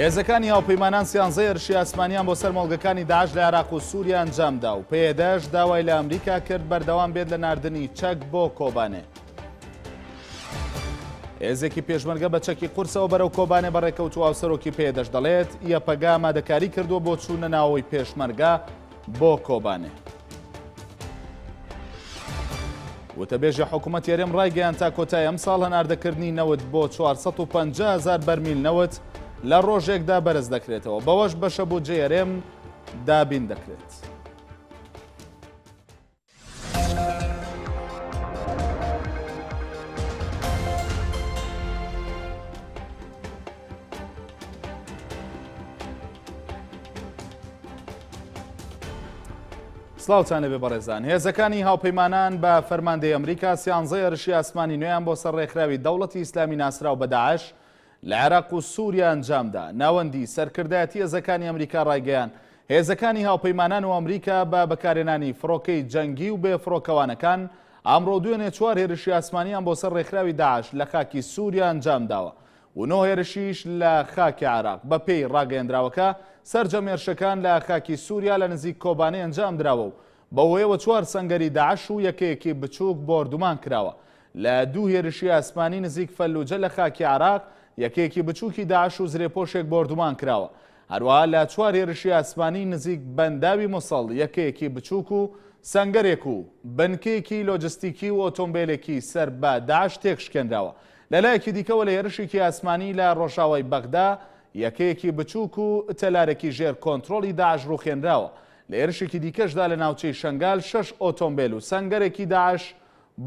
هێزەکانی هاوپەیمانان سیانزە هێرشی ئاسمانیان بۆ سەر مۆڵگەکانی داعش لە عێراق و سووریا ئەنجامدا و پێدەش داوای لە ئەمریکا کرد بەردەوام بێت لە ناردنی چەک بۆ کۆبانێ. هێزێکی پێشمەرگە بە چەکی قورسەوە بەرەو کۆبانێ بەڕێکەوتو هاوسەرۆکی پێدەش دەڵێت یەپەگا مادەکاری کردووە بۆ چوونە ناوەوەی پێشمەرگە بۆ کۆبانێ. وتەبێژی حکوومەت یەرێم ڕایگەیان تا کۆتای ئەم ساڵ هەناردەکردنی نەوت بۆ 450 هزار بەرمیل نەوت لە ڕۆژێکدا بەرز دەکرێتەوە بەوەش بەشە بۆ جێرێم دابین دەکرێت. سلااوانەێ بەڕێزان هێزەکانی هاوپەیمانان بە فەرماندەی ئەمریکا سیانزە ێرشی ئاسمانی نوێیان بۆ سەر ڕێکخراوی دەوڵەتی ئیسلامی ناسرااو بەداعش لە عێراق و سووریا ئەنجامدا ناوەندی سەرکردایەتی هێزەکانی ئەمریکا ڕایگەیان هێزەکانی هاوپەیمانان و ئەمریکا بە بەکارێنانی فڕۆکەی جەنگی و بێ فڕۆکەوانەکان ئامڕۆ دوێنێ چوار هێرشی ئاسمانیان بۆ سەر ڕێکخراوی داعش لە خاکی سووریا ئەنجام داوە و نۆ هێرشیش لە خاکی عێراق. بەپێی ڕاگەیەندراوەکە، سەرجەم هێرشەکان لە خاکی سووریا لە نزیک کۆبانێ ئەنجام دراوە و بەوهۆیەوە چوار سەنگەری داعش و یەکەیەکی بچووک بۆردومان کراوە. لە دوو هێرشی ئاسمانی نزیک فەلوجە لە خاکی عێراق، یەکەیەکی بچووکی داعش و زرێپۆشێک بۆردومان کراوە. هەروەها لە چوار هێرشی ئاسمانی نزیک بەنداوی موسڵ، یەکەیەکی بچووک و سەنگەرێک و بنکەیەکی لۆجستیکی و ئۆتۆمبێلێکی سەر بە داعش تێکشکێنراوە. لە لایەکی دیکەوە لە هێرشێکی ئاسمانی لە ڕۆژاوای بەغدا، یەکەیەکی بچووک و تەلارێکی ژێر کۆنترۆڵی داعش ڕووخێنراوە. لە هێرشێکی دیکەشدا لە ناوچەی شەنگال شەش ئۆتۆمبێل و سەنگەرێکی داعش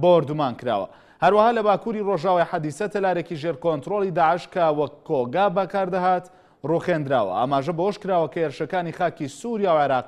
بۆردومان کراوە. هەروەها لە باکووری ڕۆژاوای حەدیسە تەلارێکی ژێر کۆنترۆڵی داعش کە وەک کۆگا بەکاردەهات ڕووخێنراوە. ئاماژە بەوەش کراوە کە هێرشەکانی خاکی سووریا و عێراق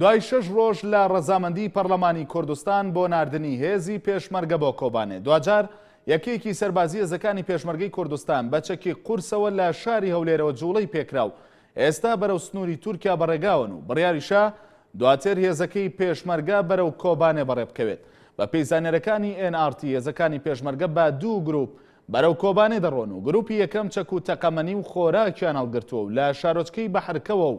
دوای شەش ڕۆژ لە ڕەزامەندی پەڕلەمانی کوردستان بۆ ناردنی هێزی پێشمەرگە بۆ کۆبانێ دواجار یەکێکی سەربازی هێزەکانی پێشمەرگەی کوردستان بە چەکی قورسەوە لە شاری هەولێرەوە جوڵەی پێکرا و ئێستا بەرەو سنووری تورکیا بەڕێگاون و بڕیاریشە دواتر هێزەکەی پێشمەرگە بەرەو کۆبانێ بەڕێ بکەوێت بە پێی زانێرەکانی NRT هێزەکانی پێشمەرگە بە دوو گروپ بەرەو کۆبانێ دەڕۆن و گروپی یەکەم چەک و تەقەمەنی و خۆراکیان هەڵگرتووە و لە شارۆچکەی بەحرکەوە و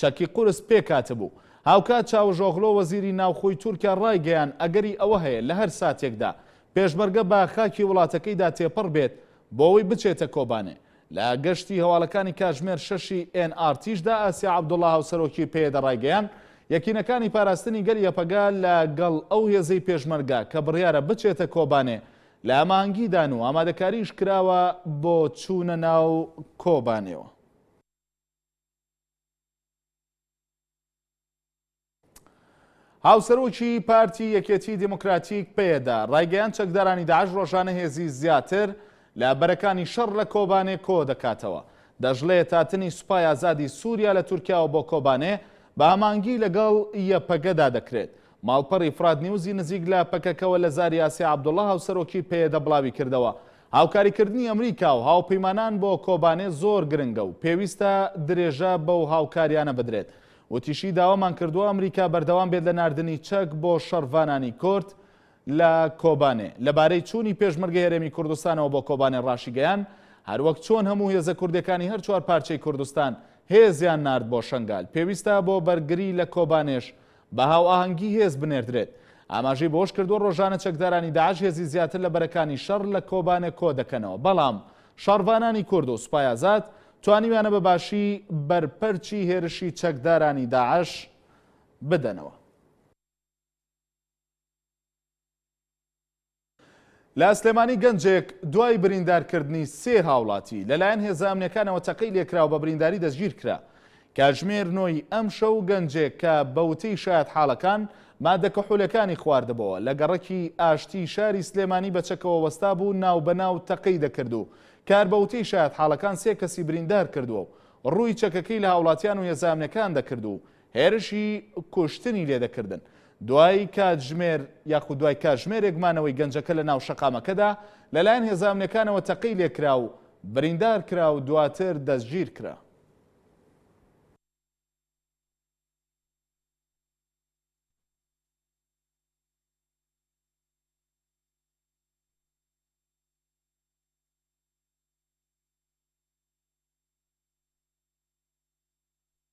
چەکی قورس پێکهاتبوو. هاوکات چاوشئۆغلۆ وەزیری ناوخۆی تورکیا ڕایگەیاند ئەگەری ئەوە هەیە لە هەر ساتێکدا پێشمەرگە بە خاکی وڵاتەکەیدا تێپەڕ بێت بۆوەی بچێتە کۆبانێ. لە گەشتی هەواڵەکانی کاتژمێر شەش ی ئێن ئاڕ تیشدا ئاسیا عەبدوڵا هاوسەرۆکی پەیەدە ڕایگەیاند یەکینەکانی پاراستنی گەل یەپەگە لە گەڵ ئەو هێزەی پێشمەرگە کە بڕیارە بچێتە کۆبانێ لە هەماهەنگیدان و ئامادەکاریش کراوە بۆ چوونە ناو کۆبانێوە. هاوسەرۆکی پارتی یەکێتی دیموکراتیک پێدا ڕایگەیان چەکدارانی داعش ڕۆژانە هێزی زیاتر لە بەرەکانی شەڕ لە کۆبانێ کۆ دەکاتەوە دەژڵێ تاتنی سوپای ئازادی سووریا لە تورکیاوە بۆ کۆبانێ بە هەمانگی لەگەڵ یەپەگەدا دەکرێت ماڵپەڕی فرات نیوزی نزیک لە پەکەکەوە لە زاری ئاسیا عەبدوڵا هاوسەرۆکی پەیەدە بڵاویکردەوە، هاوکاریکردنی ئەمریکا و هاوپەیمانان بۆ کۆبانێ زۆر گرنگە و پێویستە درێژە بەو هاوکاریانە بدرێت. وتیشی، داوامان کردووە ئەمریکا بەردەوام بێت لە ناردنی چەک بۆ شەڕڤانانی کورد لە کۆبانێ. لەبارەی چوونی پێشمەرگەی هەرێمی کوردستانەوە بۆ کۆبانێ راشیگەیاند، هەروەک چۆن هەموو هێزە کوردیەکانی هەر چوار پارچەی کوردستان هێزیان نارد بۆ شەنگال، پێویستە بۆ بەرگری لە کۆبانێش بە هاوئاهەنگی هێز بنێردرێت. ئاماژەی بەوەشکردووە، رۆژانە چەکدارانی داعش هێزی زیاتر لە بەرەکانی شەڕ لە کۆبانێ کۆدەکەنەوە، بەڵام شەڕڤانانی کورد و سوپای ئازاد توانیویانە بە باشی بەرپەرچی هێرشی چەکدارانی داعش بدەنەوە. لە سلێمانی گەنجێک دوای بریندارکردنی سێ هاوڵاتی، لەلایەن هێزە ئەمنیەکانەوە تەقەی لێکرا و بە برینداری دەستگیرکرا. کاتژمێر نۆی ئەمشەو گەنجێک کە بە وتەی شایەتحاڵەکان مادە کحولەکانی خواردبۆوە، لە گەڕەکی ئاشتی شاری سلێمانی بە چەکەوە وەستابوو ناو بە ناو تەقەی دەکرد و کار بە وتەی شایەتحاڵەکان سێ کەسی بریندارکردووە و رووی چەکەکەی لە هاوڵاتیان و هێزە ئەمنیەکان دەکرد و هێرشی کوشتنی لێدەکردن. دوای کاتژمێر یاخود دوای کاژمێرێک مانەوەی گەنجەکە لە ناو شەقامەکەدا، لەلایەن هێزە ئەمنیەکانەوە تەقەی لێکرا و بریندار کرا و دواتر دەستگیر کرا.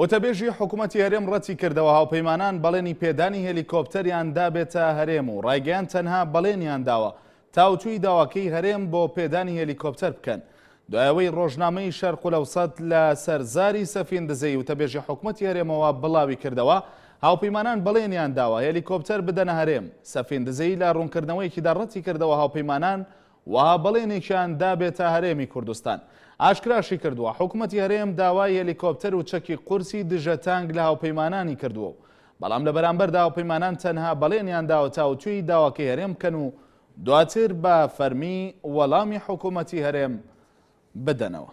وتەبێژی حکومەتی هەرێم ڕەتیکردەوە هاوپەیمانان بەڵێنی پێدانی هێلیکۆپتەریان دابێتە هەرێم و ڕایگەیاند تەنها بەڵێنیان داوە تاوتوێی داواکەی هەرێم بۆ پێدانی هێلیکۆپتەر بکەن دوایەوەی ڕۆژنامەی شەرقولەوسەت لە سەرزاری سەفین دزەی وتەبێژی حکومەتی هەرێمەوە بڵاوی کردەوە هاوپەیمانان بەڵێنیان داوە هێلیکۆپتەر بدەنە هەرێم سەفین دزەی لە ڕوونکردنەوەیەکیدا ڕەتی کردەوە هاوپەیمانان وەها بەڵێنێکیان دابێتە هەرێمی کوردستان. ئاشکراشیکردووە، حکومەتی هەرێم داوای هێلیکۆپتەر و چەکی قورسی دژە تانک لە هاوپەیمانانی کردووە و بەڵام لە بەرامبەردا هاوپەیمانان تەنها بەڵێنیان داوە تاوتوێی داواکەی هەرێم بکەن و دواتر بە فەرمی وەڵامی حکومەتی هەرێم بدەنەوە.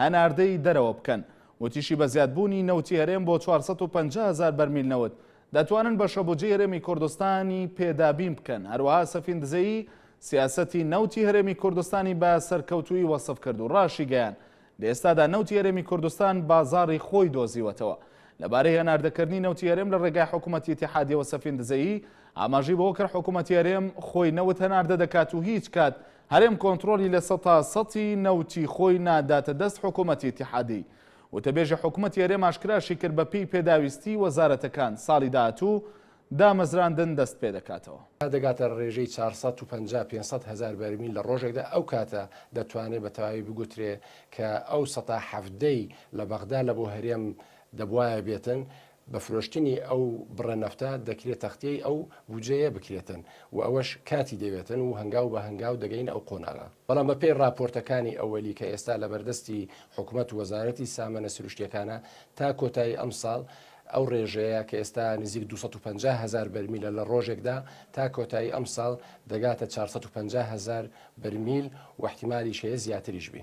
هەناردەی دەرەوە بکەن. وتیشی بە زیادبوونی نەوتی هەرێم بۆ چوار سەد و پەنجا هەزار بەرمیل نەوت، دەتوانن بەشەبودجەی هەرێمی کوردستانی پێ دابین بکەن، هەروەها سەفین دزەیی سیاسەتی نەوتی هەرێمی کوردستانی بە سەرکەوتوویی وەسف کرد و راشیگەیاند، لەئێستادا نەوتی هەرێمی کوردستان بازاڕی خۆی دۆزیوەتەوە. لەبارەی هەناردەکردنی نەوتی هەرێم لە رێگای حکومەتی ئیتیحادیەوە سەفین دزەیی ئاماژەی بەوەکرد حکومەتی هەرێم خۆی نەوت هەناردە دەکات و هیچ کات هەرێم کۆنترۆلی لە سەتا سەتی نەوتی خۆی ناداتە دەست حکومەتی ئیتیحادی وتەبێژی حکومەتی هەرێم ئاشکراشیکرد بەپێی پێداویستی وەزارەتەکان ساڵی داهاتوو دامەزراندن دەستپێدەکاتەوە. تا دەگاتە رێژەی چوار سەد و پەنجا پێنج سەد هەزار بەرمیل لە رۆژێکدا، ئەو کاتە دەتوانرێت بە تەواوی بگوترێت کە ئەو سەتا حەڤدەی لە بەغدا لە بۆ هەرێم دەبوایە بێتن، بە فرۆشتنی ئەو بڕە نەفتە دەکرێت تەختیەی ئەو بودجەیە بکرێتن و ئەوەش کاتی دەوێتن و هەنگاو بە هەنگاو دەگەینە ئەو قۆناغە. بەڵام بە پێی ڕاپۆرتەکانی ئەوەلی کە ئێستا لە بەردەستی حکومەت و وەزارەتی سامەنە سروشتیەکانە تا کۆتایی ئەمساڵ ئەو ڕێژەیە کە ئێستا نزیک دوو سەد و پەنجا هەزار بەرمیلە لە ڕۆژێکدا تا کۆتایی ئەمساڵ دەگاتە چوار سەد و پەنجا هەزار بەرمیل و ئیحتیمالیش هەیە زیاتریش بی.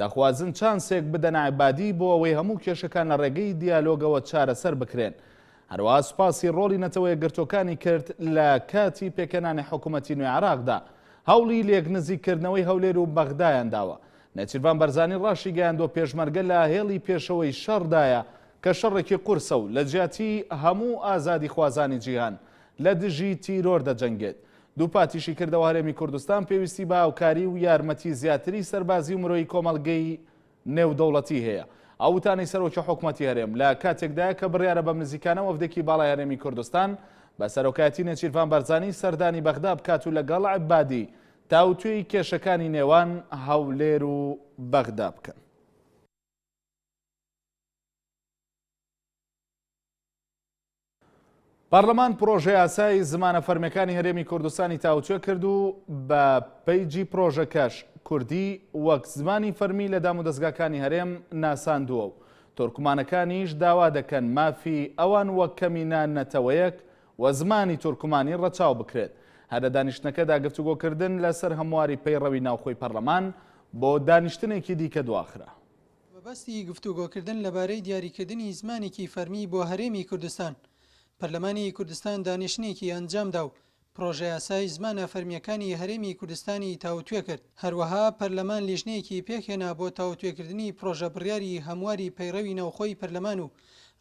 دەخوازن چانسێک بدەن عەبادی بۆ ئەوەی هەموو کێشەکان لە ڕێگەی دیالۆگەوە چارەسەر بکرێن. هەروەها سوپاسی ڕۆڵی نەتەوە یەکگرتووەکانی کرد لە کاتی پێکهێنانی حکوومەتی نوێی عێراقدا. هەوڵی لێکنزیککردنەوەی هەولێر و بەغدایان داوە. نێچیرڤان بەرزانی ڕاشیگەیاندووە پێشمەرگە لە هێڵی پێشەوەی شەڕدایە، کە شەڕێکی قورسە و لە جیاتی هەموو ئازادیخوازانی جیهان لە دژی تیرۆر دەجەنگێت دووپاتیشی کردەوە هەرێمی کوردستان پێویستی بە هاوکاری و یارمەتی زیاتری سەربازی و مرۆیی کۆمەڵگەی نێودەوڵەتی هەیە. ئەو وتانەی سەرۆکی حکومەتی هەرێم لە کاتێکدایە کە بڕیارە بە نزیکانە وەفدێکی باڵای هەرێمی کوردستان بە سەرۆکایەتی نێچیرڤان بەرزانی سەردانی بەغدا بکات و لەگەڵ عەبادی تاوتوێی کێشەکانی نێوان هەولێر و بەغدا بکەن. پارلمان پڕۆژەیاسای زمانە فەرمیەکانی هەرێمی کوردستانی تاوتوێ کرد و بە پەیجی پڕۆژەکەش کوردی وەک زمانی فەرمی لە دام و دەستگاکانی هەرێم ناساندووە و تورکمانەکانیش داوا دەکەن مافی ئەوان وەک کەمینە نەتەوەیەک و زمانی تورکمانی ڕەچاو بکرێت هەر لە دانیشتنەکەدا گفتوگۆکردن لەسەر هەمواری پەیڕەوی ناوخۆی پەرلەمان بۆ دانیشتنێکی دیکە دواخرا مەبەستی گفتوگۆکردن لەبارەی دیاریکردنی زمانێکی فەرمی بۆ هەرێمی کوردستان. پەرلەمانی کوردستان دانیشتنێکی ئەنجامدا و پڕۆژەیاسای زمانە فەرمییەکانی هەرێمی کوردستانی تاوتوێ کرد. هەروەها پەرلەمان لیژنەیەکی پێکهێنا بۆ تاوتوێکردنی پڕۆژە بڕیاری هەمواری پەیڕەوی ناوخۆی پەرلەمان و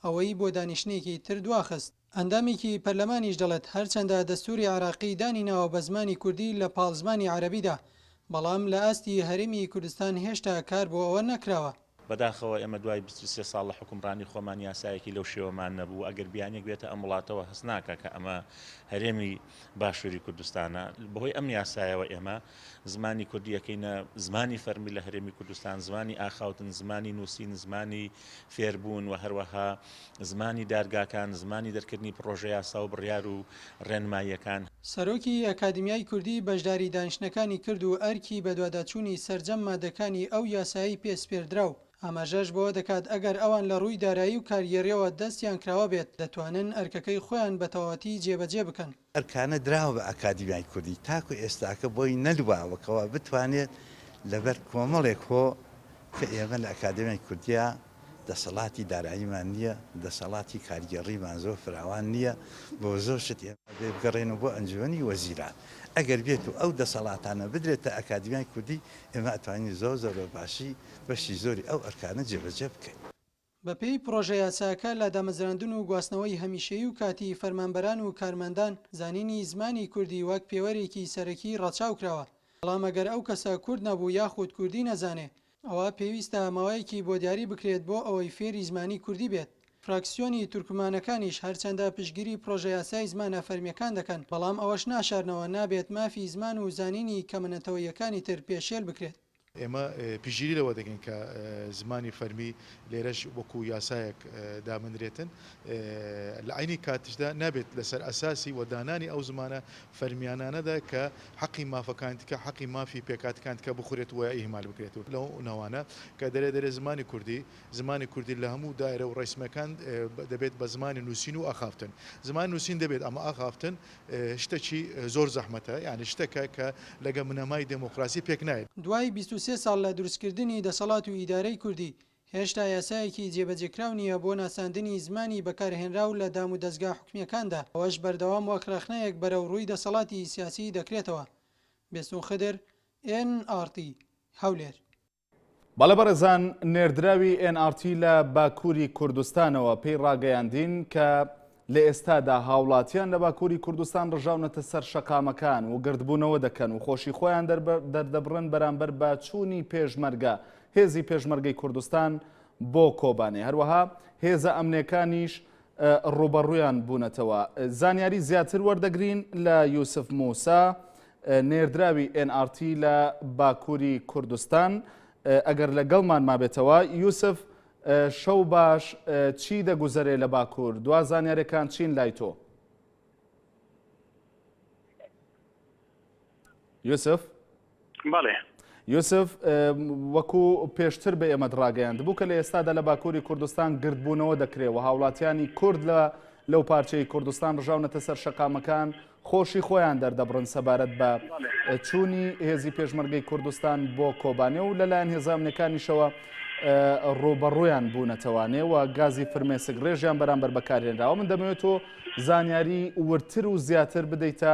ئەوەی بۆ دانیشتنێکی تر دواخست. ئەندامێکی پەرلەمانیش دەڵێت، هەرچەندە دەستووری عێراقی دانی ناوە بە زمانی کوردی لە پاڵ زمانی عەرەبیدا، بەڵام لە ئاستی هەرێمی کوردستان هێشتا کار بۆ ئەوە نەکراوە. بەداخەوە ئێمە دوای بیست و سێ ساڵ لە حوکمڕانی خۆمان یاسایەکی لەو شێوەمان نەبوو، ئەگەر بیانییەک بێتە ئەم وڵاتەوە هەست ناکا کە ئەمە هەرێمی باشووری کوردستانە، بەهۆی ئەم یاسایەوە ئێمە زمانی کوردی ئەکەینە زمانی فەرمی لە هەرێمی کوردستان، زمانی ئاخاوتن، زمانی نووسین، زمانی فێربوون و هەروەها زمانی دادگاکان، زمانی دەرکردنی پڕۆژە یاسا و بڕیار و ڕێنماییەکان. سەرۆکی ئەکادیمیای کوردی بەشداری دانیشتنەکانی کرد و ئەرکی بەدواداچوونی سەرجەم مادەکانی ئەو یاسایەی پێ سپێردرا و ئاماژەش بەوە دەکات ئەگەر ئەوان لە ڕووی دارایی و کارگێڕییەوە دەستیان کراوە بێت دەتوانن ئەرکەکەی خۆیان بە تەواوەتی جێبەجێ بکەن. ئەرکانە دراوە بە ئەکادیمیای کوردی تاکو ئێستاکە بۆی نەدواوە کەوا بتوانێت لەبەر کۆمەڵێک هۆ کە ئێمە لە ئەکادێمیای کوردیا دەسەڵاتی داراییمان نییە دەسەڵاتی کارگێڕیمان زۆر فراوان نییە بۆ زۆر شت ئێمە بێ بگەڕێنەوە بۆ ئەنجومەنی وەزیران ئەگەر بێت و ئەو دەسەڵاتانە بدرێتە ئەکادیمیای کوردی ئێمە ئەتوانین زۆر زۆر بە باشی بەشی زۆری ئەو ئەرکانە جێبەجێ بکەین. بەپێی پڕۆژەیاساکە، لە دامەزراندن و گواستنەوەی هەمیشەیی و کاتیی فەرمانبەران و کارمەندان، زانینی زمانی کوردی وەک پێوەرێکی سەرەکی ڕەچاو کراوە، بەڵام ئەگەر ئەو کەسە کورد نەبوو یاخود کوردی نەزانێ، ئەوا پێویستە ماوەیەکی بۆ دیاری بکرێت بۆ ئەوەی فێری زمانی کوردی بێت. فراکسیۆنی تورکمانەکانیش هەرچەندە پشتگیری پڕۆژەیاسای زمانە فەرمییەکان دەکەن، بەڵام ئەوەش ناشارنەوە نابێت مافی زمان و زانینی کەمە نەتەوەییەکانی تر پێشێل بکرێت. ئێمە پشتگیری لەوە دەکەین کە زمانی فەرمی لێرەش وەکو یاسایەک دابنرێتن، لە عەینی کاتیشدا نابێت لەسەر ئەساسی و دانانی ئەو زمانە فەرمیانانەدا کە حەقی مافەکانی دیکە، حەقی مافی پێکهاتەکانی دیکە بخورێت و ئیهمال بکرێت و لەو ناوانە کە دەرێ دەرێ زمانی کوردی، زمانی کوردی لە هەموو دایرە و ڕێسمەکان دەبێت بە زمانی نووسین و ئاخافتن. زمانی نووسین دەبێت ئەمە ئاخافتن. شتەکی زۆر زەحمەتە یانی شتەکە کە لەگە بنەمای دێمۆکڕاسی پێک نایەت. دوای بیست و سێ ساڵ لە دروستکردنی دەسەڵات و ئیدارەی کوردی، هێشتا یاسایەکی جێبەجێکراو نییە بۆ ناساندنی زمانی بەکارهێنراو لە دام و دەزگا حکومییەکاندا، ئەوەش بەردەوام وەک ڕەخنەیەک بەرەو ڕووی دەسەڵاتی سیاسی دەکرێتەوە. بێستوون خدر، ئێن ئاڕتی، هەولێر. بەڵێ بەڕێزان، نێردراوی ئێن ئاڕ تی لە باکووری کوردستانەوە پێی ڕاگەیاندین کە لە ئێستادا هاوڵاتیان لە باکووری کوردستان ڕژاونەتە سەر شەقامەکان و گردبوونەوە دەکەن و خۆشی خۆیان دەردەبڕن بەرامبەر بە چوونی پێشمەرگە، هێزی پێشمەرگەی کوردستان بۆ کۆبانێ. هەروەها هێزە ئەمنێکانیش ڕووبەڕوویان بوونەتەوە. زانیاریی زیاتر وەردەگرین لە یوسف موسا، نێردراوی ئێن ئاڕ تی لە باکووری کوردستان ئەگەر لەگەڵمان مابێتەوە. یوسف شەو باش، چی دەگوزەرێ لە باکوور؟ دوا زانیارییەکان چین لای تۆ؟ یوسف؟ بەڵێ. یوسف وەکو پێشتر بە ئێمەت ڕاگەیاند بوو کە لە ئێستادا لە باکووری کوردستان گردبوونەوە دەکرێت و هاوڵاتیانی کورد لە لەو پارچەی کوردستان ڕژاونەتە سەر شەقامەکان خۆشی خۆیان دەردەبڕن سەبارەت بە چوونی هێزی پێشمەرگەی کوردستان بۆ کۆبانێ و لەلایەن هێزامنەکانیشەوە ڕوبەڕویان بوونەتەوانێ و گازی فرمێسک ڕێژیان بەرامبەر بەکارهێنراوە من دەمەوێت تۆ زانیاری ورتر و زیاتر بدەیتە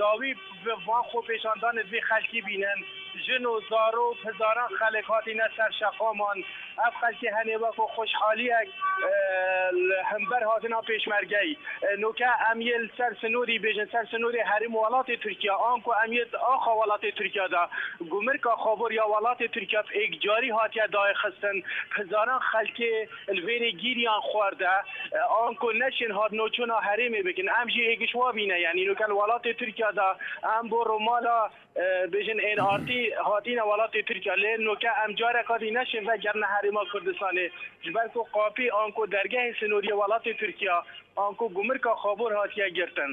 داوی ڤان خۆپێشاندانت بی خەلکی بینن ژن و زارۆک هزاران خەلک هاتینە سەر شەقامان ئەڤ خەلکی هەنێ وەکۆ خۆشحالیەک هەمبەر هاتنا پێشمەرگەی نوکە ئەم یل سەر سنوری بێژن سەر سنوری هەریم وەڵاتێ تورکیا ئانکۆ ئەم یل ئاخا وەڵاتێ تورکیا دا گومرکا خابۆر یا وەڵاتێ تورکیا ڤ ئێکجاری هاتیە داێخستن هزاران خەلکێ الوێنێ گیریان خواردا ئانکۆ نەچن هاتنۆ چۆنا هەرێمێ بکن ئەم ژێ ئێگش وا بینە یانی نوکەل وەڵاتێ تورکیا دا ئەم بۆ ڕۆ مالا بێژن ئێن ئارتی هاتینە وەڵاتێ تورکیا لێ نۆکە ئەم جارە قادی نەچن ڤە گەرنە هەرێما کوردستانێ ژ بەر کۆ قاپی ئانکۆ دەرگەێ سنۆریە وەڵاتێ تورکیا ئانکۆ گومرکا خابۆر هاتیە گرتن.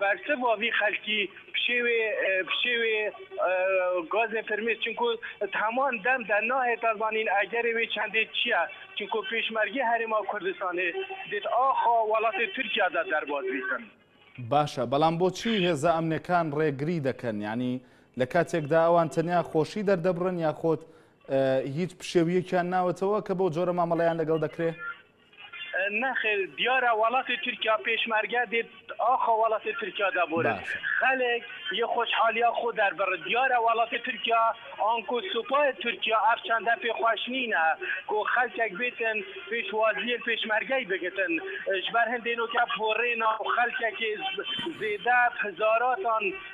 بارسە بۆڤی خەلکی پشێوێ پشێوێ گازێ فرمێ چنکۆ هەمان دەم دە ناهێتا زانین ئەگەرێ وێ چەندێ چیە چنکۆ پێشمەرگێ هەرێما کوردستانێ دێت ئاخا وەڵاتێ تورکیا دا دەرباز بیتن. باشە بەڵام بۆچی هێزە ئەمنەکان ڕێگری دەکەن یانی لە کاتێکدا ئەوان تەنیا خۆشی دەردەبڕن یاخۆد هیچ پشێویەکیان ناوەتەوە کە بەو جۆرە مامەڵەیان لەگەڵ دەکرێ؟ نەخێر دیارە وەڵاتی تورکیا پێشمەرگە دێت ئاخۆ وەڵاتی تورکیا دەبورد باشە. خەلک یە خۆشحالیا خۆ دەربڕد دیارە وەڵاتی تورکیا ئانکۆ سوپای تورکیا ئەف چەندە پێ خوەش نینە کۆ خەلکەک بێتن پێش وازیەل پێشمەرگەی بگتن ژبەر هندێ نۆکە پۆرێنا و خەلکەکێ زێدە هزاراتان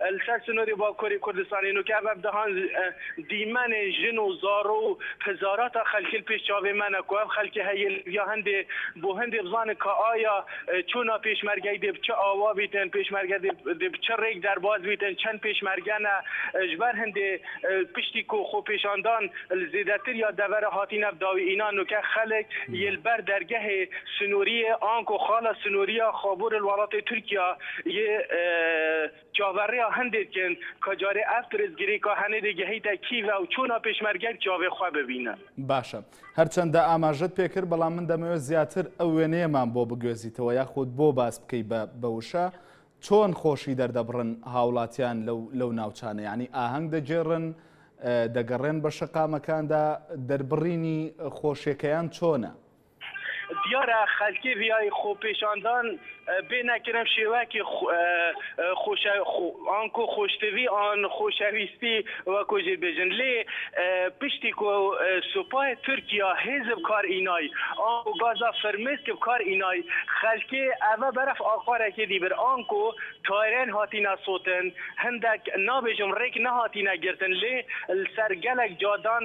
لە سەر سنووری باکووری کوردستان هێن و کەڤە دەهان دیمەنێ ژن و زاڕۆ و هزاراتا خەلکیل پیش چاوێ مەنە کو ئەڤ خەلکێ هەییل یا هندێ بۆ هندێ بزانن ک ئایا چۆنا پێشمەرگەی دێ ب چ ئاوا بیتن، پێشمەرگە دێ ب چ رێک دەرباز بیتن، چەن پێشمەرگەنە ژ بەر هندێ پشتی کو خوپیشاندان ل زێدەتر یا دەڤەرە هاتینە داوی ئینا نووکە خەلک یێ ل بەر دەرگەێ سنووریێ ئانکۆ خاڵە سنوورییا خابوور ل وەڵاتێ تورکیا یێ چاڤەڕێا هەندێ کن کە جارێ ئەڤ پرسگیری کە هەنێدێ گەهیتە کیڤە و چۆنا پێشمەرگەگ چاڤێ خوە ببینە؟ باشە. هەرچەندە ئاماژەت پێ کرد، بەڵام من دەمەوێ زیاتر ئەو وێنەیەمان بۆ بگوێزیتەوە یاخود بۆ باس بکەی بە بە وشە، چۆن خۆشی دەردەبڕن هاوڵاتیان لەو لەو ناوچانە؟ یەعنی ئاهەنگ دەگێڕن، دەگەڕێن بە شەقامەکاندا، دەربڕینی خۆشیەکەیان چۆنە؟ دیارە خەلکێ ڤیای خۆپێشاندان بێنە کرن شێوەکی خۆشە ئانکۆ خۆشتڤی ئان خۆشەویستی وەکۆ ژێ بێژن لێ پشتی کۆ سۆپای تورکیا هێز بکار ئینای ئانکۆ گازا فرمێسک بکار ئینای خەلکێ ئەڤە بەرەف ئاخارەکێ دی بر ئانکۆ تایرێن هاتینە سۆتن هندەک نابێژم رێک نەهاتینە گرتن لێ لسەر گەلەک جادان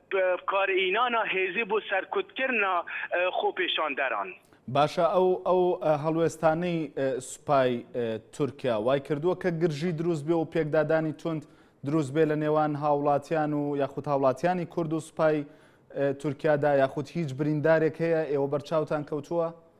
بکارهینانا هێزی بۆ سەرکوتکردنا خۆپێشاندەران. باشە ئەو ئەو هەڵوێستانەی سوپای تورکیا وای کردووە کە گرژی دروست بێ و پێکدادانی توند دروست بێ لە نێوان هاوڵاتیان و یاخود هاوڵاتیانی کورد و سوپای تورکیادا یاخود هیچ بریندارێک هەیە ئێوە بەرچاوتان کەوتووە؟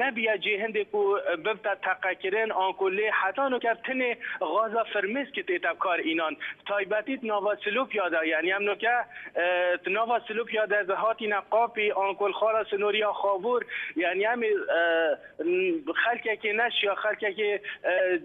نەبیە جێ هندێک و ببتە تەقەکرن ئان کو لێ حەتا نۆ کەر تنێ غازا فرمێس ک تێتە کار ئینان تایبەتیت ناوا سلو پیادە یەعنی ئەم نۆ کە ناوا سلو پیادە ز هاتینە قاپی ئان کول خارا سنوریا خاوور یەعنی ئەم خەلکەکێ نەشیا خەلکەکێ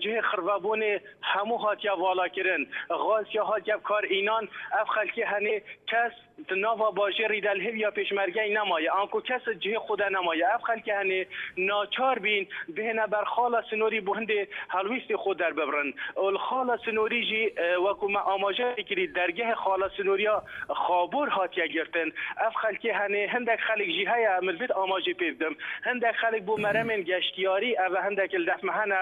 جهێ خڕڤە بونێ هەموو هاتیە ڤالا کرن غاز کە هاتیە کار ئینان ئەف خەلکێ هەنێ کەس تو ناڤا باژێڕی دەل هویا پێشمەرگەی نەمایە ئانکۆ کەسد جهێ خودا نەمایە ئەڤ خەلکە هەنێ ناچار بین بهێنە بەر خاڵە سنۆری بۆ هندێ هەڵویستی خۆ دەرببڕن ئۆل خاڵە سنۆری ژی وەکو مە ئاماژە کریت دەرگەێ خاڵە سنۆریا خابۆر هاتیە گرتن ئەڤ خەلکێ هەنێ هندەک خەلک ژی هەیە ئەمن ڤید ئاماژەێ پێ بدم هندەک خەلک بۆ مەرەمێن گەشتیاری ئەڤە هندەکل دەفمە هەنە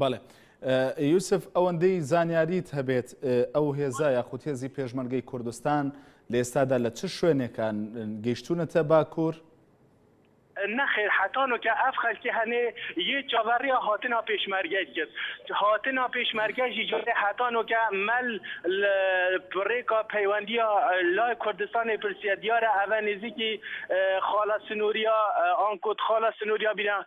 بەڵێ یوسف ئەوەندەی زانیاریت هەبێت ئەو هێزا یاخود هێزی پێشمەرگەی کوردستان لە ئێستادا لە چ شوێنێکان گەیشتونەتە باکوور؟ نەخێر حەتانۆ کە ئەف خەلکی هەنێ یێ چاڤەڕیا هاتنا پێشمەرگەیل کرد هاتنا پێشمەرگە ژی جارێ حەتانۆ کە مەل لە بڕێکا پەیوەندیا لای کوردستانێ پرسیە دیارە ئەڤە نێزیکی خاڵە سنووریا ئان کۆت خاڵە سنووریا بینا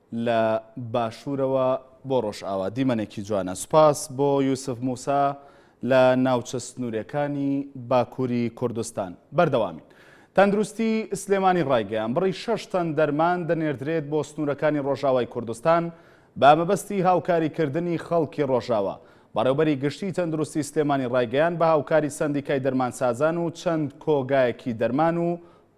لە باشورەوە بۆ ڕۆژئاوا دیمەنێکی جوانە سوپاس بۆ یوسف موسا لە ناوچە سنوورێکانی باکووری کوردستان بەردەوامین تەندروستی سلێمانی ڕایگەیان بڕی شش تەن دەرمان دەنێردرێت بۆ سنوورەکانی ڕۆژاوای کوردستان بە مەبەستی هاوکاریکردنی خەڵکی ڕۆژاوا بەڕێوبەری گشتی تەندروستی سلێمانی ڕایگەیان بە هاوکاری سندیکای دەرمانسازان و چەند کۆگایەکی دەرمان و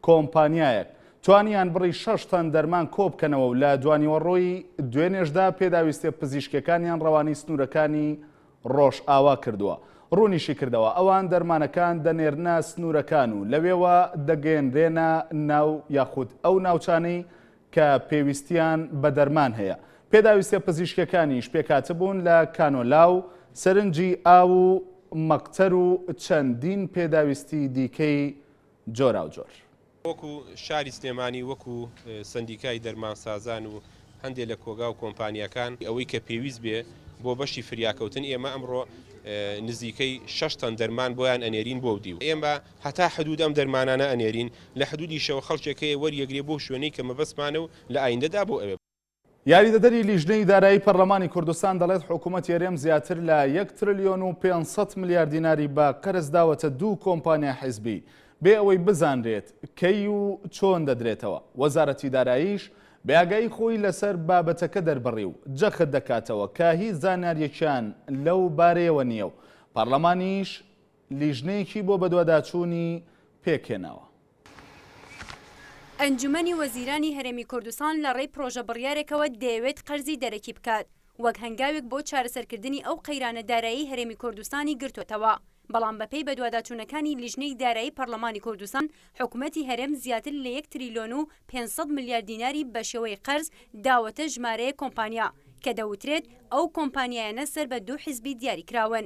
کۆمپانیایەک توانیان بڕی شەش تەن دەرمان کۆبکەنەوە و لە دوانیوەڕۆی دوێنێشدا پێداویستیە پزیشکیەکانیان ڕەوانەی سنورەکانی ڕۆژئاوا کردووە. ڕوونیشیکردەوە، ئەوان دەرمانەکان دەنێرنە سنورەکان و لەوێوە دەگەیەنرێنە ناو یاخود ئەو ناوچانەی کە پێویستیان بە دەرمان هەیە. پێداویستیە پزیشکیەکانیش پێکهاتبوون لە کانۆلا و سەرنجی ئاو و مەقتەر و چەندین پێداویستی دیکەی جۆراوجۆر. وەکو شاری سلێمانی وەکو سەندیکای دەرمانسازان و هەندێ لە کۆگا و کۆمپانیاکان، ئەوەی کە پێویست بێ بۆ بەشی فریاکەوتن ئێمە ئەمڕۆ نزیکەی شەش تەن دەرمان بۆیان ئەنێرین بۆ و دیو ئێمە هەتا حدود ئەم دەرمانانە ئەنێرین لە حدودیشەوە خەڵکێک هەیە وەریەگرێ بۆ شوێنەی کە مەبەستمانە و لە ئایندەدا بۆ ئەوێ یاریدەدەری لیژنەی دارایی پەرلەمانی کوردستان دەڵێت، حکومەتی هەرێم زیاتر لە یەک ترلیۆن و پێنج سەد ملیار دیناری بە قەرز داوەتە دوو کۆمپانیای حیزبی، بێ ئەوەی بزانرێت کەی و چۆن دەدرێتەوە. وەزارەتی داراییش بێئاگایی خۆی لەسەر بابەتەکە دەربڕی و جەخت دەکاتەوە کە هیچ زانیارییەکیان لەو بارەیەوە نییە و پەرلەمانیش لیژنەیەکی بۆ بەدواداچوونی پێکهێناوە. ئەنجومەنی وەزیرانی هەرێمی کوردستان لە ڕێی پرۆژە بڕیارێکەوە دەیەوێت قەرزی دەرەکی بکات وەک هەنگاوێک بۆ چارەسەرکردنی ئەو قەیرانە دارایەی هەرێمی کوردستانی گرتۆتەوە، بەڵام بەپێی بەدواداچوونەکانی لیژنەی دارایی پەرلەمانی کوردستان، حکومەتی هەرێم زیاتر لە یەک تریلیۆن و پێنج سەد ملیار دیناری بەشێوەی قەرز داوەتە ژمارەیەک کۆمپانیا کە دەوترێت ئەو کۆمپانیایانە سەر بە دوو حزبی دیاریکراون.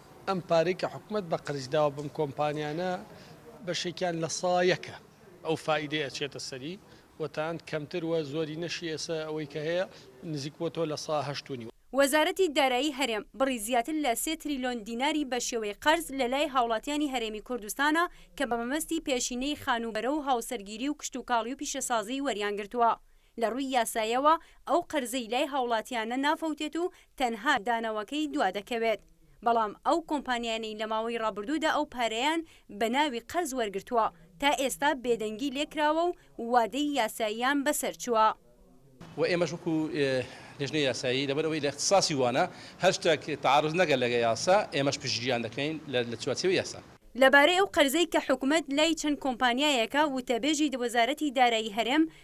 ئەم پارەی کە حکومەت بە قەرز داوە بەم کۆمپانیانە بەشێکیان لە سا یەکە ئەو فائیدەی ئەچێتە سەری و تاند کەمتر وە زۆرینەشی ئێسە ئەوەی کە هەیە نزیک بۆتەوە لە سا هەشت و نیو. وەزارەتی دارایی هەرێم بڕی زیاتر لە سێ تریلۆن دیناری بە شێوەی قەرز لە لای هاوڵاتیانی هەرێمی کوردستانە کە بە مەبەستی پێشینەی خانووبەرە و هاوسەرگیری و کشتوکاڵی و پیشەسازی وەریان گرتووە. لە ڕووی یاسایەوە ئەو قەرزەی لای هاوڵاتیانە نافەوتێت و تەنها دانەوەکەی دوا دەکەوێت، بەڵام ئەو کۆمپانیانەی لە ماوەی ڕابردوودا ئەو پارەیان بە ناوی قەرز وەرگرتووە تا ئێستا بێدەنگی لێکراوە و وادەی یاساییان بەسەر چووە. وە ئێمەش وەکو لیژنەی یاسایی لەبەر ئەوەی لە اختصاصی وانە هەر شتەک تعارض نەگەت لەگە یاسا ئێمەش پشتگیریان دەکەین لە چوارچێوەی یاسا. لەبارەی ئەو قەرزەی کە حکومەت لای چەند کۆمپانیایەکە وتەبێژی وەزارەتی دارایی هەرێم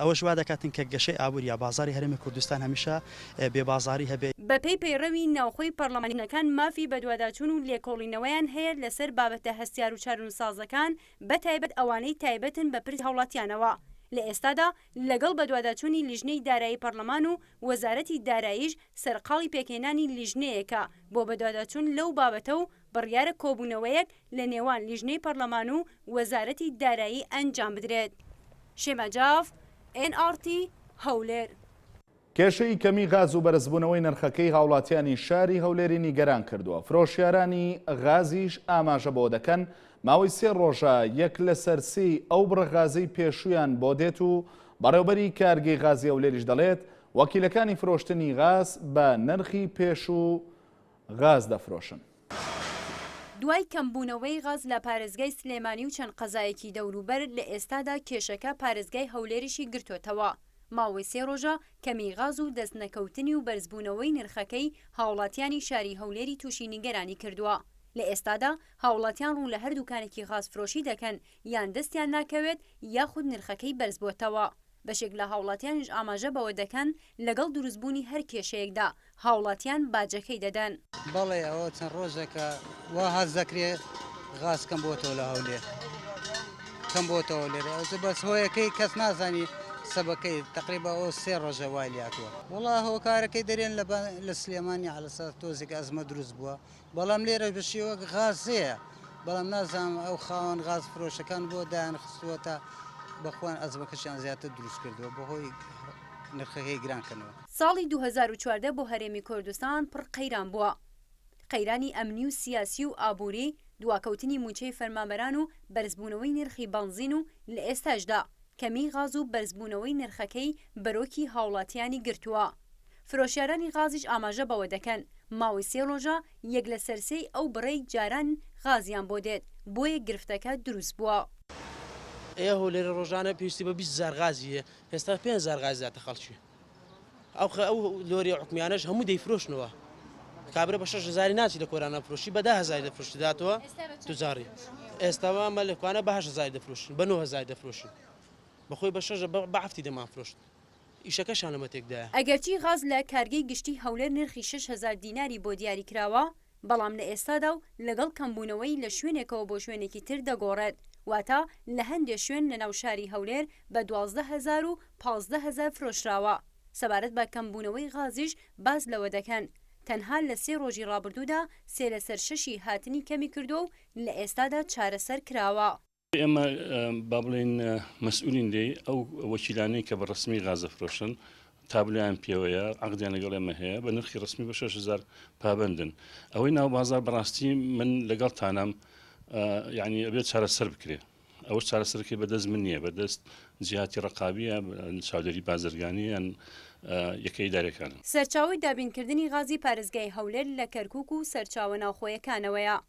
ئەوەش وا دەکاتن کە گەشەی ئابووری یا بازاڕی هەرێمی کوردستان هەمیشە بێ بازاڕی هەبێ. بەپێی پەیڕەوی ناوخۆی پەڕڵەمانەکان مافی بەدواداچوون و لێکۆڵینەوەیان هەیە لەسەر بابەتە هەستیار و چارونسازەکان بە تایبەت ئەوانەی تایبەتن بە پرسی هاوڵاتیانەوە لە ئێستادا لەگەڵ بەدواداچوونی لیژنەی دارایی پەڕڵەمان و وەزارەتی داراییش سەرقاڵی پێکهێنانی لیژنەیەکە بۆ بەدواداچوون لەو بابەتە و بڕیارە کۆبوونەوەیەک لە نێوان لیژنەی پەڕلەمان و وەزارەتی دارایی ئەنجام بدرێت. شێما جاف، ئێن ئاڕ تی، هەولێر. کێشەی کەمی غاز و بەرزبوونەوەی نرخەکەی هاوڵاتیانی شاری هەولێری نیگەران کردووە، فرۆشیارانی غازیش ئاماژە بەوە دەکەن، ماوەی سێ رۆژە یەک لەسەر سێی ئەو بڕە غازەی پێشوویان بۆ دێت و بەڕێوبەری کارگەی غازی هەولێریش دەڵێت، وەکیلەکانی فرۆشتنی غاز بە نرخی پێشوو غاز دەفرۆشن. دوای کەمبوونەوەی غاز لە پارێزگای سلێمانی و چەند قەزایەکی دەوروبەر، لە ئێستادا کێشەکە پارێزگای هەولێریشی گرتۆتەوە، ماوەی سێ رۆژە کەمیی غاز و دەست نەکەوتنی و بەرزبوونەوەی نرخەکەی هاوڵاتیانی شاری هەولێری تووشی نیگەرانی کردووە، لە ئێستادا هاوڵاتیان روو لە هەر دوکانێکی غازفرۆشی دەکەن یان دەستیان ناکەوێت یاخود نرخەکەی بەرزبۆتەوە. بەشێک لە هاوڵاتیانیش ئاماژە بەوە دەکەن، لەگەڵ دروستبوونی هەر کێشەیەکدا هاوڵاتیان باجەکەی دەدەن. بەڵێ ئەوە چەند ڕۆژێکە وا هەست دەکرێ غاز کەم بۆتەوە لە هەولێر کەم بۆتەوە لێرە ئەوجە بەس هۆیەکەی کەس نازانی سەبەکەی تقریبا ئەو سێ ڕۆژە وای لاتوە وڵا هۆکارەکەی دەرێن لە سلێمانی عەلەساس تۆزێک ئەزمە دروست بووە بەڵام لێرەش بە شێوەک غاز هەیە بەڵام نازانم ئەو خاوەن غاز فرۆشەکان بۆ دایان خستووە تا بەخۆیان ئەزمەکەشیان زیاتر دروست کردووە بەهۆی نرخەکەی گران کەنەوە. ساڵی دوو هەزار و چواردە بۆ هەرێمی کوردستان پڕ قەیران بووە. قەیرانی ئەمنی و سیاسی و ئابووری، دواکەوتنی مووچەی فەرمانبەران و بەرزبوونەوەی نرخی بەنزین و لە ئێستاشدا کەمیی غاز و بەرزبوونەوەی نرخەکەی بەرۆکی هاوڵاتییانی گرتووە. فرۆشیارانی غازیش ئاماژە بەوە دەکەن، ماوەی سێ رۆژە یەک لەسەر سێی ئەو بڕەی جاران غازیان بۆ دێت، بۆیە گرفتەکە دروست بووە. ئێ هەولێرە ڕۆژانە پێویستی بە بیست هەزار غازی هەیە ئێستا پێنج هەزار غازی داتە خەڵکی ئەو ئەو لۆریە عوکمیانەش هەموو دەیفرۆشنەوە کابرا بە شەش هەزاری ناچی لە کۆرانە فرۆشی بە ده هەزاری دەفرۆشی داتەوە توجاری ئێستاوە مە لە کوانە بە هەشت هەزاری دەفرۆشین بە نۆ هەزاری دەفرۆشین بەخۆی بە شەش بە هەفتی دەمانفرۆشت ئیشەکەشیان لەمە تێکدایە. ئەگەرچی غاز لە کارگەی گشتی هەولێر نرخی شەش هەزار دیناری بۆ دیاری کراوە، بەڵام لە ئێستادا و لەگەڵ کەمبوونەوەی لە شوێنێکەوە بۆ شوێنێکی تر دەگۆڕێت، واتە لە هەندێ شوێن لە ناو شاری هەولێر بە دوازدە هەزار و پازدە هەزار فرۆشراوە. سەبارەت بە کەمبوونەوەی غازیش باس لەوە دەکەن، تەنها لە سێ رۆژی رابردوودا سێ لەسەر شەشی هاتنی کەمی کردووە و لە ئێستادا چارەسەر کراوە. ئێمە با بڵێین مەسئولین لێی ئەو وەکیلانەی کە بە ڕسمی غازە فرۆشن تابلیان پێوەیە عقدیان لەگەڵ ئێمە هەیە بە نرخی ڕسمی بە 6هزار پابندن ئەوەی ناو بازار بەڕاستی من لەگەڵ تانام یعنی ئەبێت چارەسەر بکرێ ئەوە چارەسەرکەی بەدەست من نییە بەدەست جیاتی ڕقابیە چاودێری بازرگانیان یەکەی دارەکان سەرچاوی دابینکردنی غازی پارێزگای هەولێر لە کەرکک و سەرچاوە ناوخۆیەکانەوەیە.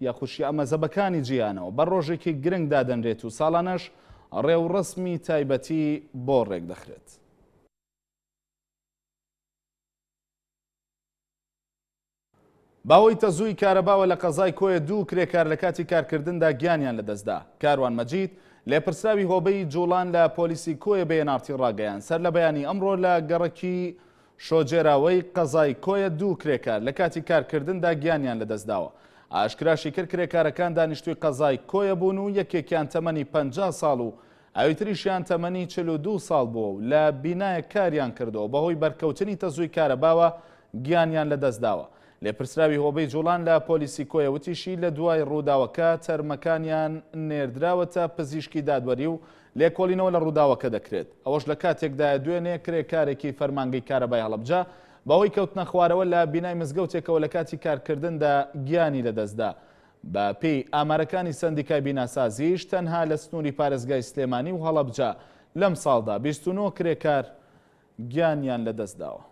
یا خوشیا مەزەبەکانی جیانەوە بە ڕۆژێکی گرنگ دادەنرێت و ساڵانەش ڕێوڕەسمی تایبەتی بۆ ڕێکدەخرێت. باوەی تەزووی کارەباوە لە قەزای کۆیە دوو کرێکار لە کاتی کارکردندا گیانیان لەدەستدا. کاروان مەجید، لێپرسراوی هۆبەی جوڵان لە پۆلیسی کۆیە بە ئێن ئاڕ تی ڕاگەیاند، سەر لە بەیانی ئەمڕۆ لە گەڕەکی شۆجێراوەی قەزای کۆیە دوو کرێکار لە کاتی کارکردندا گیانیان لەدەستداوە. ئاشکراشیکرد، کرێکارەکان دانیشتووی قەزای کۆیە بوون و یەکێکیان تەمەنی پەنجا ساڵ و ئەویتریشیان تەمەنی چل و دوو ساڵ بووە و لە بینایەک کاریان کردووە بەهۆی بەرکەوتنی تەزووی کارەباوە گیانیان لەدەستداوە. لێپرسراوی هۆبەی جوڵان لە پۆلیسی کۆیە وتیشی، لەدوای رووداوەکە تەرمەکانیان نێردراوەتە پزیشکی دادوەری و لێکۆڵینەوە لە ڕووداوەکە دەکرێت، ئەوەش لە کاتێکدایە دوێنێ کرێکارێکی فەرمانگەی کارەبای هەڵەبجە بەهۆی کەوتنەخوارەوە لە بینای مزگەوتێکەوە لە کاتی کارکردندا گیانی لەدەستدا. بە پێی ئامارەکانی سەندیکای بیناسازیش تەنها لە سنوری پارێزگای سلێمانی و هەڵەبجە لەمساڵدا بیست و نۆ کرێکار گیانیان لەدەستداوە.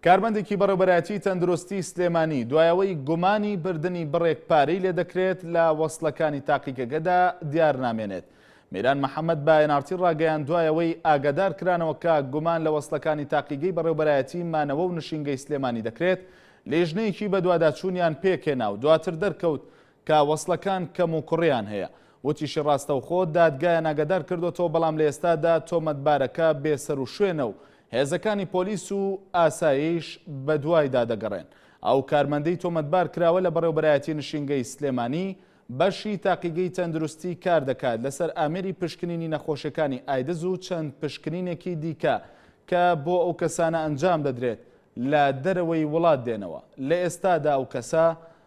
کارمەندێکی بەڕێوبەرایەتی تەندروستی سلێمانی دوایەوەی گومانی بردنی بڕێک پارەی لێدەکرێت لە وەسلەکانی تاقیگەگەدا دیار نامێنێت. میران محەممەد باەنارتی ڕاگەیان دوایەوەی ئاگادار کرانەوە کە گومان لە وەسلەکانی تاقیگەی بەڕێوبەرایەتی مانەوە و نشینگەی سلێمانی دەکرێت لیژنەیەکی بەدواداچوونیان پێکێنا و دواتر دەرکەوت کە وەسڵەکان کەم و کوڕیان هەیە. وتیشی ڕاستەوخۆ دادگایان ئاگادار کردۆتەوە بەڵام لە ئێستادا تۆمەتبارەکە بێ سەروشوێنە و هێزەکانی پۆلیس و ئاسایش بەدوایدا دەگەڕێن. ئەو کارمەندەی تۆمەتبار کراوە لە بەڕێوبەرایەتی نشینگەی سلێمانی بەشی تاقیگەی تەندروستی کار دەکات لەسەر ئامێری پشکنینی نەخۆشیەکانی ئایدز و چەند پشکنینێکی دیکە کە بۆ ئەو کەسانە ئەنجام دەدرێت لە دەرەوەی وڵات دێنەوە. لە ئێستادا ئەو کەسە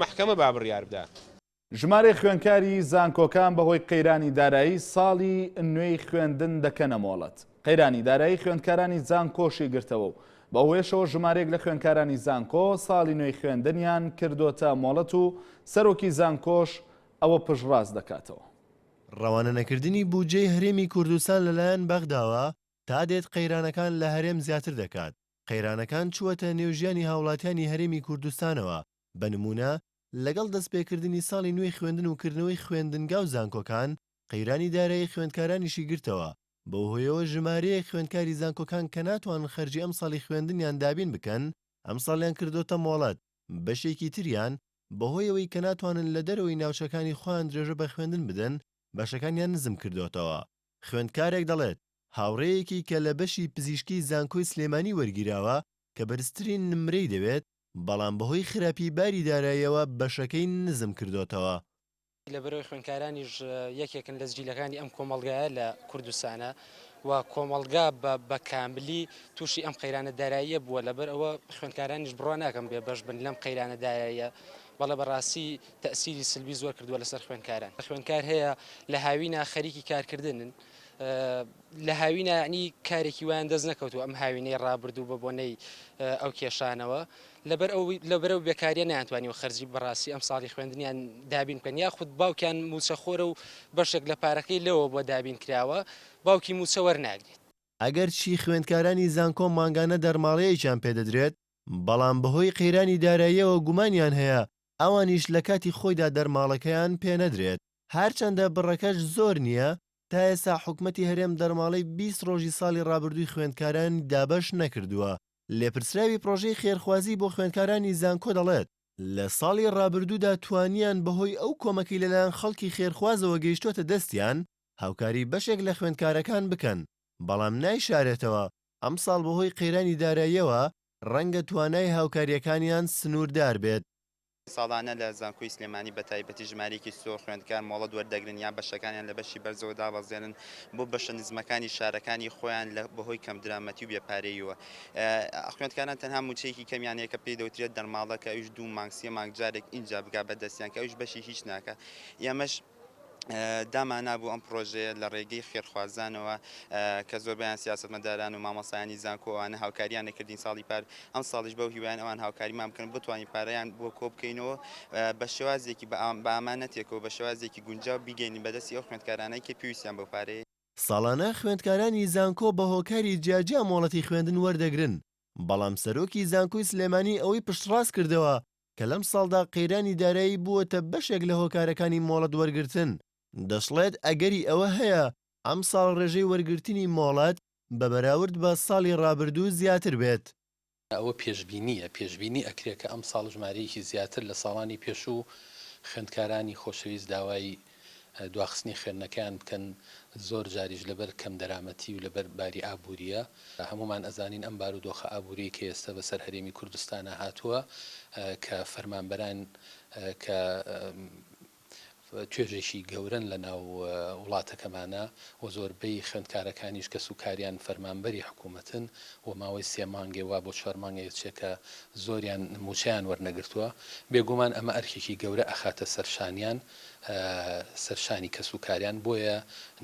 مەحکەمە با بڕیار بدات. ژمارەی خوێندکاری زانکۆکان بەهۆی قەیرانی دارایی ساڵی نوێی خوێندن دەکەنە مۆڵەت. قەیرانی دارایی خوێندکارانی زانکۆشی گرتەوە و بەوهۆیەشەوە ژمارەیەک لە خوێندکارانی زانکۆ ساڵی نوێی خوێندنیان کردۆتە مۆڵەت و سەرۆکی زانکۆش ئەوە پشتڕاست دەکاتەوە. ڕەوانەنەکردنی بودجەی هەرێمی کوردستان لەلایەن بەغداوە تادێت قەیرانەکان لە هەرێم زیاتر دەکات، قەیرانەکان چووەتە نێو ژیانی هاوڵاتیانی هەرێمی کوردستانەوە، بە نموونە لەگەڵ دەستپێکردنی ساڵی نوێی خوێندن و کردنەوەی خوێندنگا و زانکۆکان، قەیرانی دارایی خوێندکارانیشی گرتەوە، بەو هۆیەوە ژمارەیەک خوێندکاری زانکۆکان کە ناتوانن خەرجی ئەمساڵی خوێندنیان دابین بکەن، ئەمساڵیان کردۆتە مۆڵەت، بەشێکی تریان بەهۆی ئەوەی کە ناتوانن لە دەرەوەی ناوچەکانی خۆیان درێژە بە خوێندن بدەن، بەشەکانیان نزم کردۆتەوە. خوێندکارێک دەڵێت، هاوڕێیەکی کە لە بەشی پزیشکی زانکۆی سلێمانی وەرگیراوە کە بەرزترین نمرەی دەوێت، بەڵام بەهۆی خراپی باری داراییەوە بەشەکەی نزم کردۆتەوە. لەبەرئەوەی خوێندکارانیش یەکێکن لە جیلەکانی ئەم کۆمەڵگایە لە کوردستانە و کۆمەڵگا بە بە کاملی تووشی ئەم قەیرانە داراییە بووە، لەبەرئەوە خوێندکارانیش بڕوا ناکەم بێبەش بن لەم قەیرانە داراییە، بەڵێ بەڕاستی تەئسیری سلبی زۆر کردوە لەسەر خوێندکاران خوێندکار هەیە لە هاوینا خەریکی کارکردنن لە هاوینا ینی کارێکی وایان دەست نەکەوتو ئەم هاوینەی ڕابردوو بە بۆنەی ئەو کێشانەوە لەبەر ئەو لەبەرە و بێکاریە نیانتوانی و خەرجی بەڕاستی ئەم ساڵی خوێندنیان دابین بکەن یاخود باوکیان موچەخۆرە و بەشێک لە پارەکەی لەوە بۆ دابین کراوە باوکی موچە وەرناگرێت. ئەگەرچی خوێندکارانی زانکۆ مانگانە دەرماڵەیەکیان پێدەدرێت، بەڵام بەهۆی قەیرانی داراییەوە گومانیان هەیە ئەوانیش لە کاتی خۆیدا دەرماڵەکەیان پێ نەدرێت، هەرچەندە بڕەکەش زۆر نییە، تا ئێستا حکومەتی هەرێم دەرماڵەی بیست ڕۆژی ساڵی ڕابردووی خوێندکارانی دابەش نەکردووە، لێپرسراوی پڕۆژەی خێرخوازی بۆ خوێندکارانی زانکۆ دەڵێت، لە ساڵی ڕابردوودا توانیان بەهۆی ئەو کۆمەکەی لەلایەن خەڵکی خێرخوازەوە گەیشتووەتە دەستیان هاوکاری بەشێک لە خوێندکارەکان بکەن، بەڵام نایشارێتەوە ئەمساڵ بەهۆی قەیرانی داراییەوە ڕەنگە توانای هاوکارییەکانیان سنووردار بێت. ساڵانە لە زانکۆی سلێمانی بە تایبەتی ژمارەیەکی زۆر خوێندکار مۆڵەت وەردەگرن یان بەشەکانیان لە بەشی بەرزەوە دابەزێنن بۆ بەشە نزمەکانی شارەکانی خۆیان لە بەهۆی کەمدرامەتی و بێ پارەییوە خوێندکاران تەنها مووچەیەکی کەمیان هەیە کە پێی دەوترێت دەرماڵە کە ئەویش دوو مانگ سێ مانگ جارێک ئینجا بگا بەدەستیان کە ئەویش بەشی هیچ ناکا ئێمەش دامانابوو ئەم پڕۆژەیە لە ڕێگەی خێرخوازانەوە کە زۆربەیان سیاسەتمەداران و مامۆستایانی زانکۆ ئەوانە هاوکاریان دەکردین ساڵی پار ئەمساڵیش بەو هیوایەن ئەوان هاوکاریمان بکەن بتوانین پارەیان بۆ کۆبکەینەوە بە شێوازێکی بە ئامانەتێک و بە شێوازێکی گونجاو بیگەینین بەدەستی ئەو خوێندکارانەی کە پێویستیان بەو پارەیە. ساڵانە خوێندکارانی زانکۆ بە هۆکاری جیاجیا مۆڵەتی خوێندن وەردەگرن، بەڵام سەرۆکی زانکۆی سلێمانی ئەوەی پشتڕاست کردەوە کە لەم ساڵدا قەیرانی دارایی بووەتە بەشێک لە هۆکارەکانی مۆڵەت وەرگرتن، دەشڵێت ئەگەری ئەوە هەیە ئەمساڵ رێژەی وەرگرتنی مۆڵەت بە بەراورد بە ساڵی رابردوو زیاتر بێت. ئەوە پێشبینییە، پێشبینی ئەکرێت کە ئەمساڵ ژمارەیەکی زیاتر لە ساڵانی پێشوو خوێندکارانی خۆشەویست داوای دواخستنی خوێندنەکەیان بکەن، زۆر جاریش لەبەر کەم دەرامەتی و لەبەر باری ئابوورییە، هەموومان ئەزانین ئەم بارودۆخە ئابووریەی کە ئێستا بەسەر هەرێمی کوردستانا هاتووە کە فەرمانبەران کە توێژێکی گەورەن لە ناو وڵاتەکەمانا و زۆربەی خوێندکارەکانیش کەس و کاریان فەرمانبەری حکوومەتن و ماوەی سێ مانگێ وا بۆ چوار مانگێ چێ کە زۆریان مووچەیان وەرنەگرتووە، بێگوومان ئەمە ئەرکێکی گەورە ئەخاتە سەرشانیان، سەرشانی کەس و کاریان بۆیە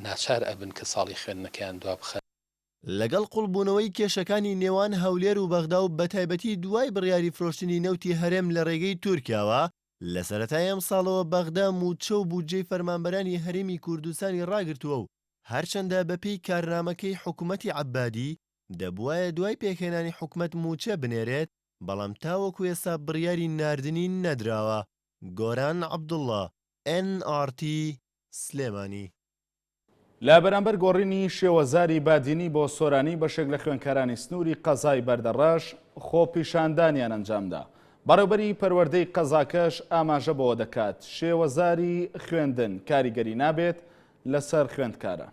ناچار ئەبن کە ساڵی خوێندنەکەیان دوا بخەن. لەگەڵ قوڵبوونەوەی کێشەکانی نێوان هەولێر و بەغدا و بەتایبەتی دوای بڕیاری فرۆشتنی نەوتی هەرێم لە رێگەی تورکیاوە، لە سەرەتای ئەمساڵەوە بەغدا مووچە و بودجەی فەرمانبەرانی هەرێمی کوردستانی راگرتووە و هەرچەندە بەپێی کارنامەکەی حکومەتی عەبادی دەبوایە دوای پێکهێنانی حکومەت مووچە بنێرێت، بەڵام تاوەکو ئێستا بڕیاری ناردنی نەدراوە. گۆران عەبدوڵا، ئێن ئاڕ تی، سلێمانی. لە بەرامبەر گۆڕینی شێوەزاری بادینی بۆ سۆرانی بەشێک لە خوێندکارانی سنووری قەزای بەردەڕەش خۆپیشاندانیان ئەنجامدا. بەڕێوبەری پەروەردەی قەزاکەش ئاماژە بەوە دەکات، شێوەزاری خوێندن کاریگەری نابێت لەسەر خوێندکاران.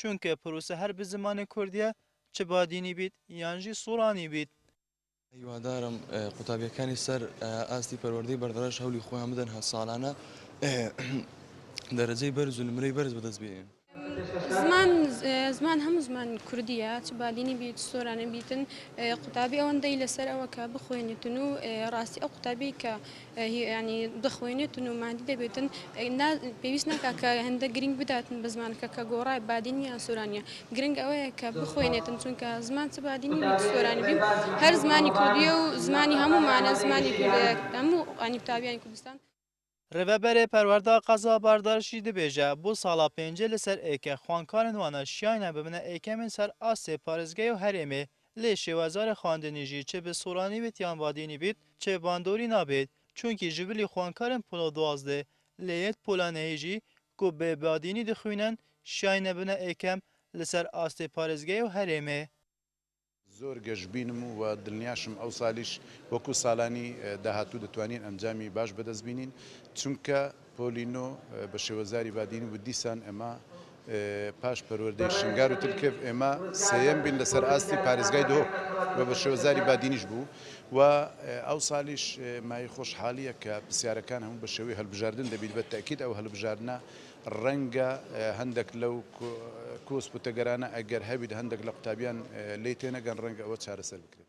چونکە پروسە هەر بزمانی کوردیە چ بادینی بیت یان ژی سورانی بیت. هیوادارم قوتابیەکانی سەر ئاستی پەروەردەی بەردەڕەش هەولی خۆیان بدەن هە ساڵانە دەرەجەی بەرز و نمرەی بەرز بەدەست بێنن. زمان زمان هەموو زمان کوردیە چ بادینی بیت چ سۆرانی بیتن قوتابی ئەوەندەی لەسەر ئەوە کە بخوێنیتن و ڕاستی ئەو قوتابی کە یانی دەخوێنێتن و ماندی دەبێتن نا پێویست ناکا کە هەندە گرنگ بداتن بە زمانەکە کە گۆڕای بادینی یان سۆرانیە گرنگ ئەوەیە کە بخوێنێتن چونکە زمان چ بادینی بێت چ سۆرانی بێ هەر زمانی کوردیە و زمانی هەموومانە زمانی کوردە هەموو یانی قوتابیانی کوردستان رێڤەبەرێ پەروەردە قەزا باردار شی دبێژە بو ساڵا پێنجێ لە سەر ئێکە خوەنکارن وانە شیاینە ببنە ئێکەمێن سەر ئاستێ پارێزگەێ و هەرێمێ لێ شێوەزارە خواندنی ژی چ بە سۆرانی بیت یان بادینی بیت چ باندۆری نابیت چونکی ژ بلی خوانکارن پۆلە دوازدە لێ یەت پۆلە نهی ژی کو بە بادینی دخوینن شیاینە بنە ئێکەم لە سەر ئاستێ پارێزگەێ و هەرێمێ. زۆر گەشبینم و دلنیاشم ئەوسالیش وەکو سالانی داهاتوو دەتوانین ئەنجامی باش بەدەست بینین چونکە. پۆلی نۆ بە شێوەزاری بادینی وت، دیسان ئێمە پاش پەروەردەی شنگار و تلکێڤ ئێمە سێیەم بین لەسەر ئاستی پارێزگای دهۆک و بە شێوەزاری بادینیش بوو و ئەوسالیش مایەی خۆشحالییە کە پرسیارەکان هەموو بە شێوەی هەلبژاردن دەبیت بە تەئکید ئەو هەلبژاردنە ڕەنگە هەندێک لەو کۆسپ و تەگەرانە ئەگەر هەبیت هەندێک لە قوتابیان لێی تێنەگەن ڕەنگە ئەوە چارەسەر بکرێت.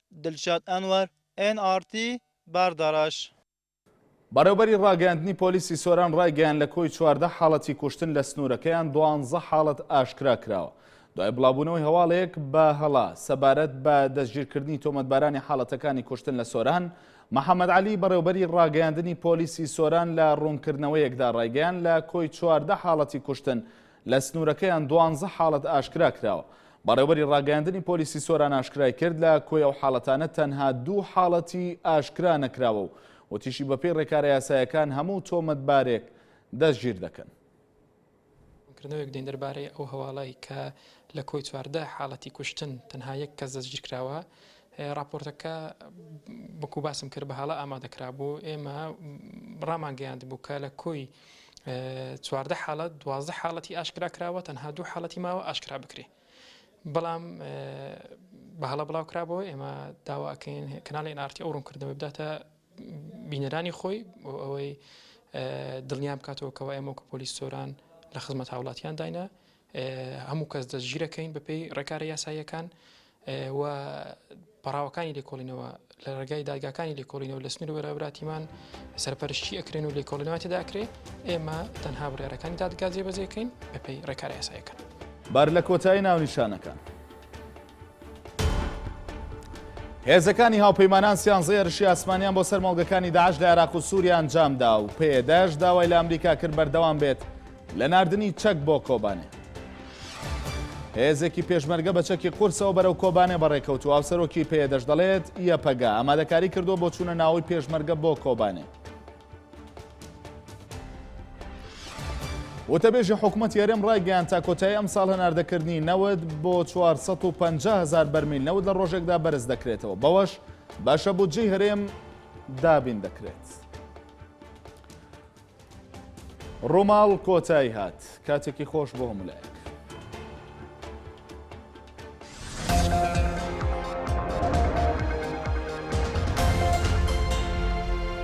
دلشاد ئەنوەر، ئێن ئاڕ تی، باردەڕەش. بەڕێوبەری ڕاگەیاندنی پۆلیسی سۆران ڕایگەیاند لە کۆی چواردە حاڵەتی کوشتن لە سنوورەکەیان دوانزە حاڵەت ئاشکرا کراوە دوای بڵاوبوونەوەی هەواڵێک بە هەڵە سەبارەت بە دەستگیرکردنی تۆمەتبارانی حاڵەتەکانی کوشتن لە سۆران محەممەد عەلی بەڕێوبەری ڕاگەیاندنی پۆلیسی سۆران لە ڕوونکردنەوەیەکدا ڕایگەیان لە کۆی چواردە حاڵەتی کوشتن لە سنوورەکەیان دوانزە حاڵەت ئاشکرا کراوە. بەڕێوەبەری ڕاگەیاندنی پۆلیسی سۆران ئاشکرای کرد، لە کۆی ئەو حاڵەتانە تەنها دوو حاڵەتی ئاشکرا نەکراوە و وتیشی، بەپێی ڕێکارە یاسایەکان هەموو تۆمەتبارێک دەستگیر دەکەن. ڕوونکردنەوەیەک دەین دەربارەی ئەو هەواڵەی کە لە کۆی چواردە حاڵەتی کوشتن تەنها یەک کەس دەستگیر کراوە. ڕاپۆرتەکە وەکو باسم کرد بە هەڵە ئامادە کرابوو، ئێمە ڕامانگەیاندبوو کە لە کۆی. چواردە حاڵەت دوازدە حاڵەتی ئاشکرا کراوە تەنها دوو حاڵەتی ماوە ئاشکرا بکرێ بەڵام بە هەڵە بڵاو کرابەوە ئێمە داواکەین کەناڵی نارتی ئەو ڕوونکردنەوە بداتە بینەرانی خۆی بۆ ئەوەی دڵنیام بکاتەوە کەەوە ئەمە کە پۆلیس سۆران لە خزمەت هاوڵاتیان داینە هەموو کەس دەستگیرەکەین بەپێی ڕێکارە یاساییەکان و پەڕاوەکانی لێکۆڵینەوە لە ڕێگای دادگاکانی لێکۆڵینەوە لە سنوور بەرەبراتیمان سەرپەرشتی ئەکرێن و لێکۆڵینەوەتی داکرێ ئێمە تەنها بڕارەکانی دادگا جێبەجێکەین بەپی ڕێکارە یاسایەکە بار لە کۆتایی ناونیشانەکان. هێزەکانی هاوپەیمانان سیانزە هێرشی ئاسمانیان بۆ سەر مۆڵگەکانی داعش لە عێراق و سووریا ئەنجامدا و پێداش داوای لە ئەمریکا کرد بەردەوام بێت لە ناردنی چەک بۆ کۆبانێ. هێزێکی پێشمەرگە بە چەکی قورسەوە بەرەو کۆبانێ بەڕێکەوت و ئاوسەرۆکی پێدەش دەڵێت یەپەگە ئامادەکاری کردو بۆ چوونە ناوەی پێشمەرگە بۆ کۆبانێ. وتەبێژی حکوومەتی هەرێم ڕایگەیان تا کۆتایی ئەمساڵ هەناردەکردنی نەوت بۆ 450 هزار بەرمیل نەوت لە ڕۆژێکدا بەرز دەکرێتەوە بەوەش باشە بۆ جێی هەرێم دابین دەکرێت. ڕووماڵ کۆتایی هات کاتێکی خۆش بۆ هەمولایە.